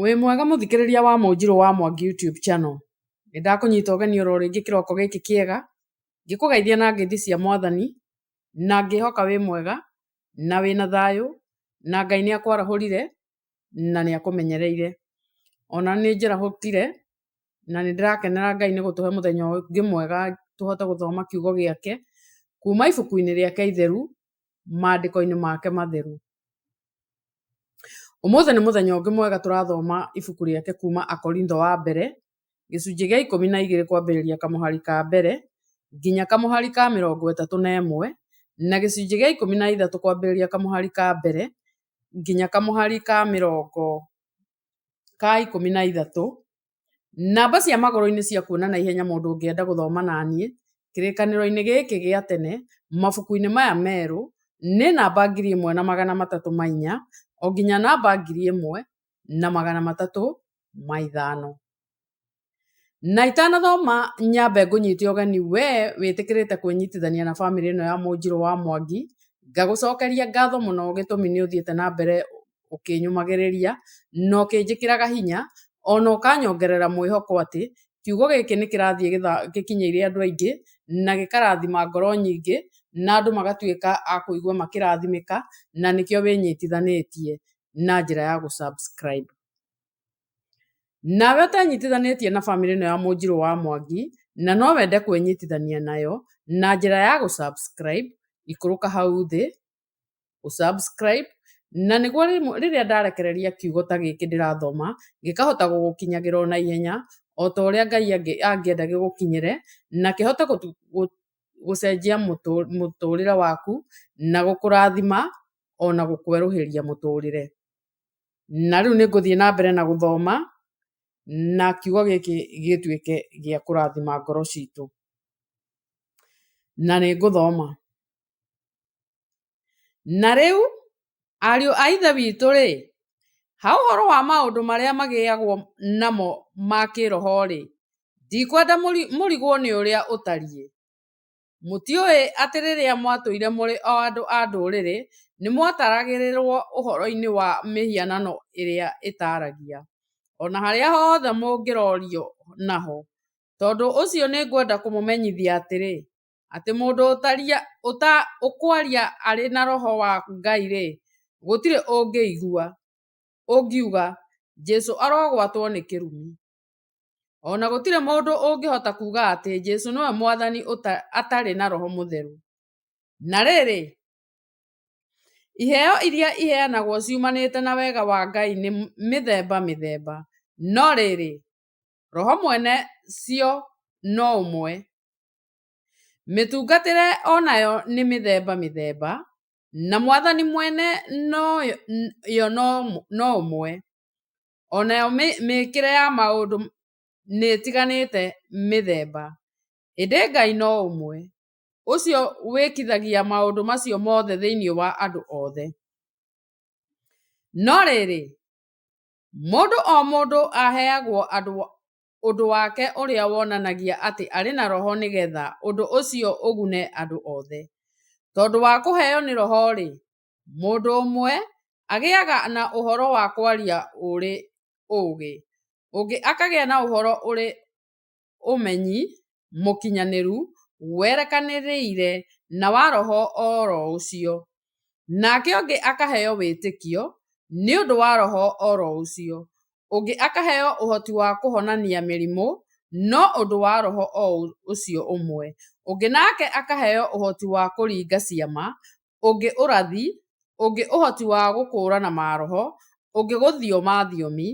Wĩ mwega mũthikĩrĩria wa Mũnjirũ wa Mwangi YouTube channel. Nĩ ndakũnyita ũgeni oro rĩngĩ kĩroko gĩkĩ kĩega, ngĩkũgeithia na ngeithi cia Mwathani, na ngĩhoka wĩ mwega, na wĩna thayũ, na Ngai nĩ akwarahũrire, na nĩ akũmenyereire. Ona nĩ njĩrahũkire, na nĩ ndĩrakenera Ngai nĩ gũtũhe mũthenya ũngĩ mwega tũhote gũthoma kiugo gĩake, kuma ibuku-inĩ rĩake itheru, maandĩko-inĩ make matheru. Ũmũthĩ nĩ mũthenya ũngĩ mwega tũrathoma ibuku rĩake kuma Akorintho wa mbere, gĩcunjĩ gĩa ikũmi na igĩrĩ kwambĩrĩria kamũhari ka mbere nginya kamũhari ka mĩrongo ĩtatũ na ĩmwe na gĩcunjĩ gĩa ikũmi na ithatũ kwambĩrĩria kamũhari ka mbere nginya kamũhari ka mĩrongo ka ikũmi na ithatũ. Namba cia magũrũ-inĩ cia kuona na ihenya mũndũ ũngĩenda gũthoma na niĩ kĩrĩkanĩro-inĩ gĩkĩ gĩa tene mabuku-inĩ maya merũ nĩ namba ngiri ĩmwe na magana matatũ ma inya o nginya namba ngiri ĩmwe na magana matatũ ma ithano. Na itanathoma nyambe ngũnyite ũgeni we wĩtĩkĩrĩte kwĩnyitithania na bamĩrĩ ĩno ya Mũnjirũ wa Mwangi, ngagũcokeria ngatho mũno gĩtũmi nĩ ũthiĩte na mbere ũkĩnyũmagĩrĩria na ũkĩnjĩkĩraga hinya ona ũkanyongerera mwĩhoko atĩ kiugo gĩkĩ nĩ kĩrathiĩ gĩkinyĩire andũ aingĩ na gĩkarathima ngoro nyingĩ na andũ magatuĩka a kũigua makĩrathimĩka na nĩkĩo wĩnyitithanĩtie na njĩra ya gũ subscribe. Nawe ũtenyitithanĩtie na bamĩrĩ ĩno ya Mũnjirũ wa Mwangi na no wende kwĩnyitithania nayo na njĩra ya gũ subscribe, ikũrũka hau thĩ ũsubscribe na nĩguo rĩrĩa ndarekereria kiugo ta gĩkĩ ndĩrathoma gĩkahota gũgũkinyagĩra o na ihenya o ta ũrĩa Ngai angĩenda gĩgũkinyĩre na kĩhote gũcenjia mũtũrĩre waku na gũkũrathima o na gũkwerũhĩria mũtũrĩre. Na rĩu nĩ ngũthiĩ na mbere na gũthoma na kiugo gĩkĩ gĩtuĩke gĩa kũrathima ngoro citũ. Na nĩ ngũthoma. Na rĩu, ariũ a Ithe witũ-rĩ, ha ũhoro wa maũndũ marĩa magĩagwo namo ma kĩĩroho-rĩ, ndikwenda mũrigwo nĩ ũrĩa ũtariĩ. Mũtiũĩ atĩ rĩrĩa mwatũire mũrĩ o andũ a Ndũrĩrĩ nĩ mwataragĩrĩrũo ũhoro-inĩ wa mĩhianano ĩrĩa ĩtaragia, o na harĩa hothe mũngĩrorio naho? Tondũ ũcio nĩ ngwenda kũmũmenyithia atĩrĩ, atĩ mũndũ ũkwaria arĩ na roho wa Ngai-rĩ, gũtirĩ ũngĩigua ũngiuga, 'Jesu arogwatwo nĩ kĩrumi. O na gũtirĩ mũndũ ũngĩhota kuuga atĩ Jesu nĩwe Mwathani atarĩ na roho mũtheru. Na rĩrĩ, iheo iria iheanagwo ciumanĩte na wega wa Ngai nĩ mĩthemba mĩthemba, no rĩrĩ, roho mwene cio no ũmwe. Mĩtungatĩre o nayo nĩ mĩthemba mĩthemba, na Mwathani mwene yo no ũmwe. O nayo mĩĩkĩre ya maũndũ nĩ ĩtiganĩte mĩthemba, ĩndĩ Ngai no ũmwe, ũcio wĩkithagia maũndũ macio mothe thĩinĩ wa andũ othe. No rĩrĩ, mũndũ o mũndũ aheagwo andũ ũndũ wake ũrĩa wonanagia atĩ arĩ na roho nĩ getha ũndũ ũcio ũgune andũ othe. Tondũ wa kũheo nĩ roho-rĩ, mũndũ ũmwe agĩaga na ũhoro wa kwaria ũrĩ ũũgĩ, ũngĩ akagĩa na ũhoro ũrĩ ũmenyi, mũkinyanĩru, werekanĩrĩire na wa roho o ro ũcio, nake ũngĩ akaheo wĩtĩkio nĩ ũndũ wa roho o ro ũcio, ũngĩ akaheo ũhoti wa kũhonania mĩrimũ no ũndũ wa roho o ũcio ũmwe, ũngĩ nake akaheo ũhoti wa kũringa ciama ũngĩ ũrathi, ũngĩ ũhoti wa gũkũũrana maroho, ũngĩ gũthioma thiomi,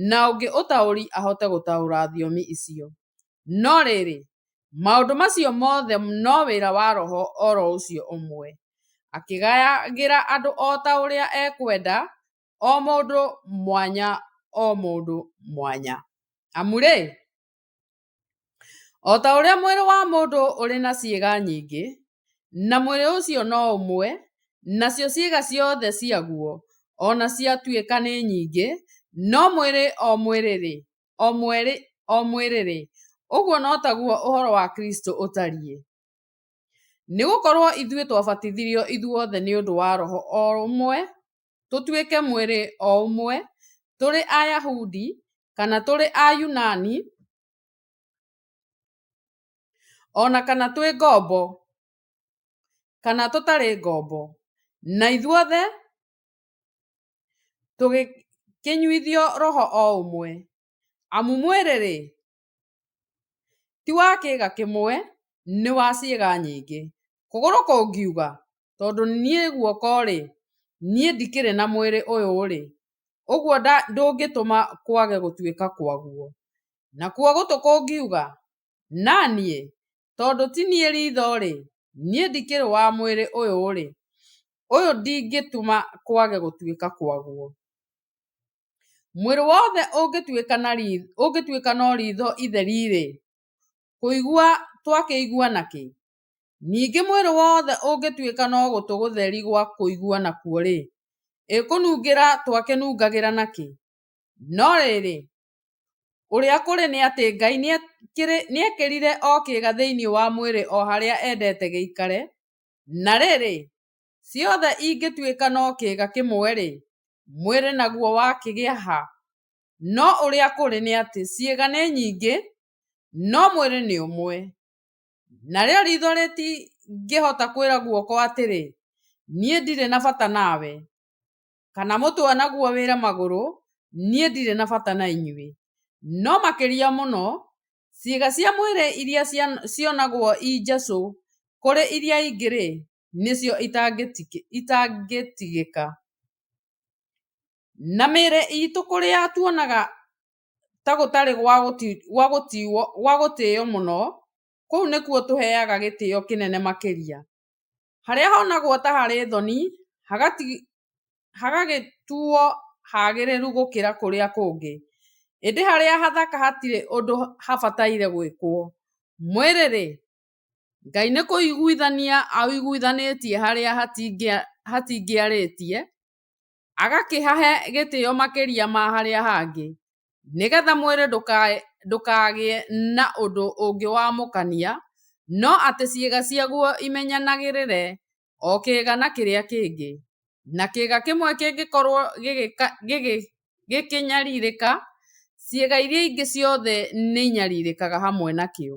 na ũngĩ ũtaũri ahote gũtaũra thiomi icio. No rĩrĩ, maũndũ macio mothe no wĩra wa Roho o ro ũcio ũmwe, akĩgayagĩra andũ o ta ũrĩa ekwenda, o mũndũ mwanya o mũndũ mwanya. Amu-rĩ, O ta ũrĩa mwĩrĩ wa mũndũ ũrĩ na ciĩga nyingĩ, na mwĩrĩ ũcio no ũmwe, nacio ciĩga ciothe ciaguo o na ciatuĩka nĩ nyingĩ, no mwĩrĩ o mwĩrĩ-rĩ, o mwĩrĩ-rĩ, ũguo no taguo ũhoro wa Kristũ ũtariĩ. Nĩ gũkorũo ithuĩ twabatithirio ithuothe nĩ ũndũ wa Roho o ũmwe tũtuĩke mwĩrĩ o ũmwe, tũrĩ Ayahudi kana tũrĩ Ayunani, o na kana twĩ ngombo kana tũtarĩ ngombo, na ithuothe tũgĩkĩnyuithio roho o ũmwe, amu mwĩrĩ-rĩ, Ti wa kĩĩga kĩmwe, nĩ wa ciĩga nyingĩ. Kũgũrũ kũngiuga, tondũ niĩ guoko-rĩ, niĩ ndikĩrĩ na mwĩrĩ ũyũ-rĩ, ũguo ndũngĩtũma kwage gũtuĩka kwaguo. Nakuo gũtũ kũngiuga, na niĩ, tondũ ti niĩ ritho-rĩ, niĩ ndikĩrĩ wa mwĩrĩ ũyũ-rĩ, ũyũ ndingĩtũma kwage gũtuĩka kwaguo. Mwĩrĩ wothe ũngĩtuĩka no riitho itheri-rĩ, kũigua twakĩigua na kĩ? Ningĩ mwĩrĩ wothe ũngĩtuĩka no gũtũ gũtheri gwa kũigua nakuo-rĩ, ĩ kũnungĩra twakĩnungagĩra na kĩ? No rĩrĩ, ũrĩa kũrĩ nĩ atĩ Ngai nĩekĩrire o kĩĩga thĩinĩ wa mwĩrĩ o harĩa endete gĩikare, na rĩrĩ, Ciothe ingĩtuĩka no kĩĩga kĩmwe-rĩ, mwĩrĩ naguo wakĩgĩa ha? No ũrĩa kũrĩ nĩ atĩ ciĩga nĩ nyingĩ, no mwĩrĩ nĩ ũmwe. Narĩo riitho rĩtingĩhota kwĩra guoko atĩrĩ, Niĩ ndirĩ na bata nawe, kana mũtwe naguo wĩre magũrũ, Niĩ ndirĩ na bata na inyuĩ. No makĩria mũno, ciĩga cia mwĩrĩ iria cionagwo i njecũ kũrĩ iria ingĩ-rĩ, nĩcio itangĩtigĩka. Na mĩĩrĩ iitũ kũrĩa tuonaga ta gũtarĩ gwa gũtĩo mũno, kũu nĩkuo tũheaga gĩtĩo kĩnene makĩria. Harĩa honagwo ta harĩ thoni, hagagĩtuo hagĩrĩru gũkĩra kũrĩa kũngĩ. Ĩndĩ harĩa hathaka hatirĩ ũndũ habataire gwĩkwo. Mwĩrĩ-rĩ, Ngai nĩ kũiguithania aũiguithanĩtie harĩa hatingĩarĩtie, agakĩhahe gĩtĩo makĩria ma harĩa hangĩ, nĩgetha mwĩrĩ ndũkagĩe na ũndũ ũngĩ wa mũkania, no atĩ ciĩga ciaguo imenyanagĩrĩre o kĩĩga na kĩrĩa kĩngĩ, na kĩĩga kĩmwe kĩngĩkorwo gĩkĩnyarirĩka, ciĩga iria ingĩ ciothe nĩ inyarirĩkaga hamwe nakĩo.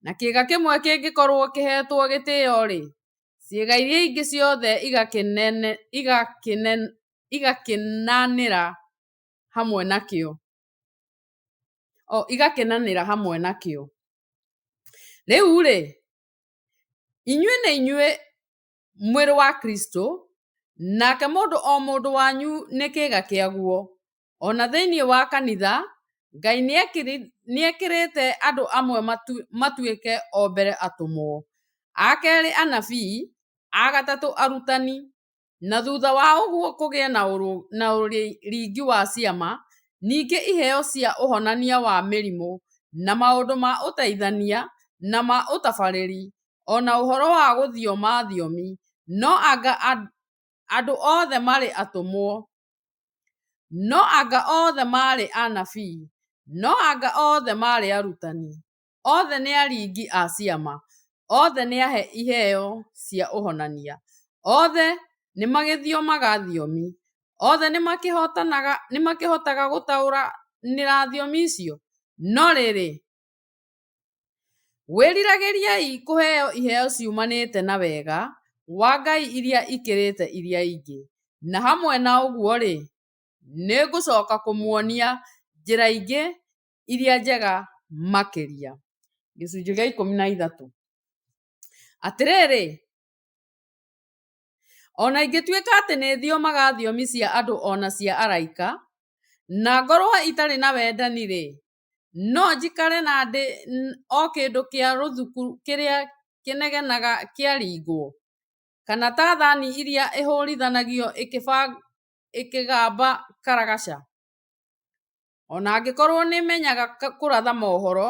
na kĩĩga kĩmwe kĩngĩkorũo kĩheetwo gĩtĩo-rĩ, ciĩga iria ingĩ ciothe igakĩnanĩra hamwe nakĩo. Rĩu-rĩ, inyuĩ nĩ inyuĩ mwĩrĩ wa Kristo, nake mũndũ o mũndũ wanyu nĩ kĩĩga kĩaguo. O na thĩinĩ wa kanitha, Ngai nĩ ekĩrĩte andũ amwe matuĩke o mbere atũmwo, a kerĩ anabii, a gatatũ arutani, na thutha wa ũguo kũgĩe na ũringi wa ciama, ningĩ iheo cia ũhonania wa mĩrimũ, na maũndũ ma ũteithania, na ma ũtabarĩri, o na ũhoro wa gũthioma thiomi. No anga andũ othe marĩ atũmwo? No anga othe maarĩ anabii? No anga othe maarĩ arutani? Othe nĩ aringi a ciama? Othe nĩ ahe iheo cia ũhonania? Othe nĩ magĩthiomaga thiomi? Othe nĩ makĩhotaga gũtaũranĩra thiomi icio? No rĩrĩ, Wĩriragĩriai kũheo iheo ciumanĩte na wega wa Ngai iria ikĩrĩte iria ingĩ, na hamwe na ũguo-rĩ, nĩ ngũcoka kũmuonia njĩra ingĩ iria njega makĩria. Gĩcunjĩ gĩa ikũmi na ithatũ. Atĩrĩrĩ, o na ingĩtuĩka atĩ nĩ thiomaga thiomi cia andũ o na cia araika, na ngorũo itarĩ na wendani-rĩ, No njikare na ndĩ o kĩndũ kĩa rũthuku kĩrĩa kĩnegenaga kĩaringwo? Kana ta thani ĩrĩa ĩhũrithanagio ĩkĩgamba karagaca? O na angĩkorũo nĩ menyaga kũratha mohoro,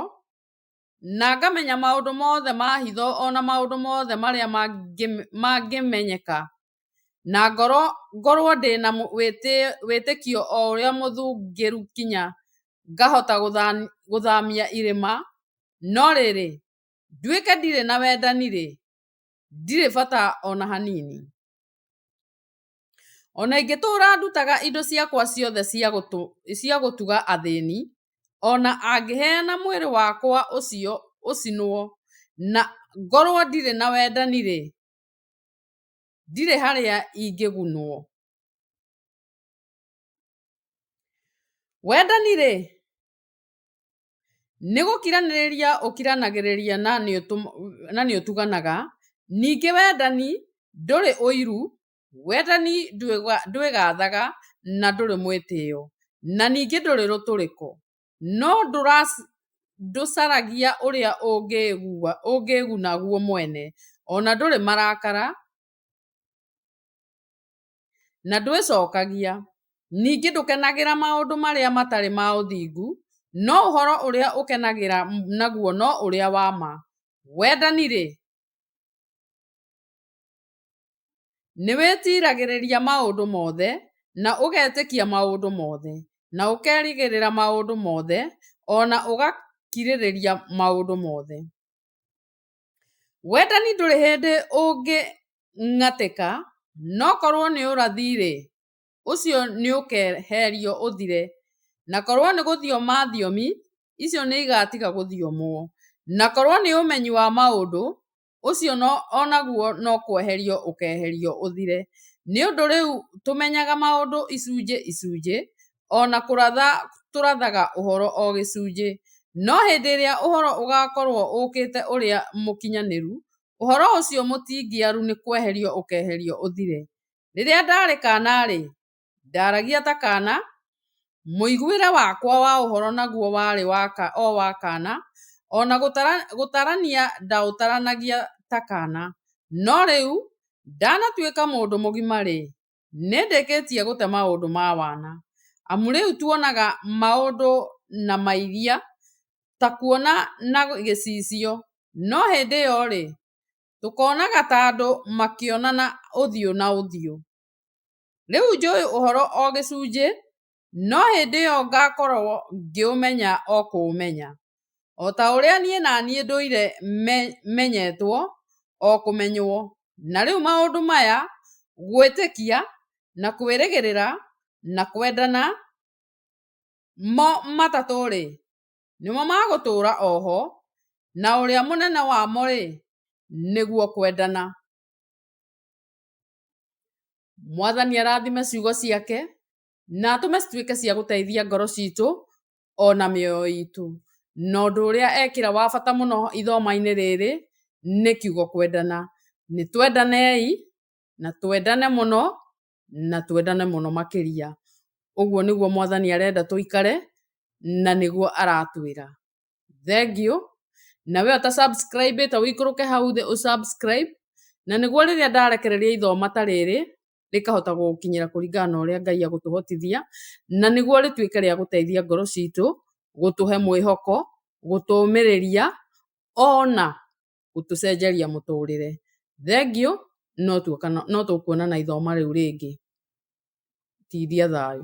na ngamenya maũndũ mothe ma hitho o na maũndũ mothe marĩa mangĩmenyeka, na ngorũo ndĩ na wĩtĩkio o ũrĩa mũthũngĩru kinya ngahota gũthamia irĩma, no rĩrĩ, nduĩke ndirĩ na wendani-rĩ, ndirĩ bata o na hanini. O na ingĩtũũra ndutaga indo ciakwa ciothe cia gũtuga athĩni, o na angĩheana mwĩrĩ wakwa ũcio ũcinwo, na ngorũo ndirĩ na wendani-rĩ, ndirĩ harĩa ingĩgunũo. Wendani-rĩ, Nĩ gũkiranĩrĩria ũkiranagĩrĩria na nĩ ũtuganaga, ningĩ wendani ndũrĩ ũiru, wendani ndwĩgathaga na ndũrĩ mwĩtĩo, na ningĩ ndũrĩ rũtũrĩko, no ndũcaragia ũrĩa ũngĩĩguna guo mwene, o na ndũrĩ marakara. na ndwĩcokagia. Ningĩ ndũkenagĩra maũndũ marĩa matarĩ ma ũthingu, no ũhoro ũrĩa ũkenagĩra naguo no ũrĩa wa ma. Wendani-rĩ, nĩ wĩtiragĩrĩria maũndũ mothe, na ũgetĩkia maũndũ mothe, na ũkerĩgĩrĩra maũndũ mothe, o na ũgakirĩrĩria maũndũ mothe. Wendani ndũrĩ hĩndĩ ũngĩng'atĩka, no korũo nĩ ũrathi-rĩ, ũcio nĩ ũkeeherio ũthire, na korũo nĩ gũthioma thiomi, icio nĩ igaatiga gũthiomwo, na korũo nĩ ũmenyi wa maũndũ, ũcio o naguo no kweherio ũkeeherio ũthire, nĩ ũndũ rĩu tũmenyaga maũndũ icunjĩ icunjĩ, o na kũratha tũrathaga ũhoro o gĩcunjĩ. No hĩndĩ ĩrĩa ũhoro ũgaakorũo ũũkĩte ũrĩa mũkinyanĩru, ũhoro ũcio mũtingiaru nĩ kweherio ũkeeherio ũthire. Rĩrĩa ndaarĩ kaana-rĩ, ndaaragia ta kaana, mũiguĩre wakwa wa ũhoro naguo warĩ o wa kaana, o na gũtarania ndaũtaranagia ta kaana. No rĩu ndanatuĩka mũndũ mũgima-rĩ, nĩndĩkĩtie gũte maũndũ ma wana amu rĩu tuonaga maũndũ na mairia ta kuona na gĩcicio no hĩndĩ ĩyo rĩ tũkonaga ta andũ makĩonana ũthiũ na ũthiũ. Rĩu njũĩ ũhoro o gĩcunjĩ no hĩndĩ ĩyo ngakorũo ngĩũmenya o kũũmenya, o ta ũrĩa niĩ na niĩ ndũire menyetwo o kũmenywo. Na rĩu maũndũ maya, gwĩtĩkia, na kwĩrĩgĩrĩra, na kwendana, mo matatũ-rĩ, nĩmo ma gũtũũra o ho, na ũrĩa mũnene wamo-rĩ, nĩguo kwendana. Mwathani arathime ciugo ciake na atũme cituĩke cia gũteithia ngoro citũ o na mĩoyo itũ. Na ũndũ ũrĩa ekĩra wa bata mũno ithomainĩ rĩrĩ nĩ kiugo kwendana. Nĩ twendanei na twendane mũno na twendane mũno makĩria. Ũguo nĩguo mwathani arenda tũikare na nĩguo aratwĩra. Thengiũ na we ũta subscribe ĩte ũikũrũke hau thĩ ũ subscribe na nĩguo rĩrĩa ndarekereria ithoma ta rĩrĩ rĩkahota gũkinyĩra kũringana na ũrĩa Ngai agũtũhotithia, na nĩguo rĩtuĩke rĩa gũteithia ngoro citũ, gũtũhe mwĩhoko, gũtũmĩrĩria, ona gũtũcenjeria mũtũrĩre. Thengiũ, no tuoka no tũkuonana ithomo rĩu rĩngĩ. Tithia thayũ.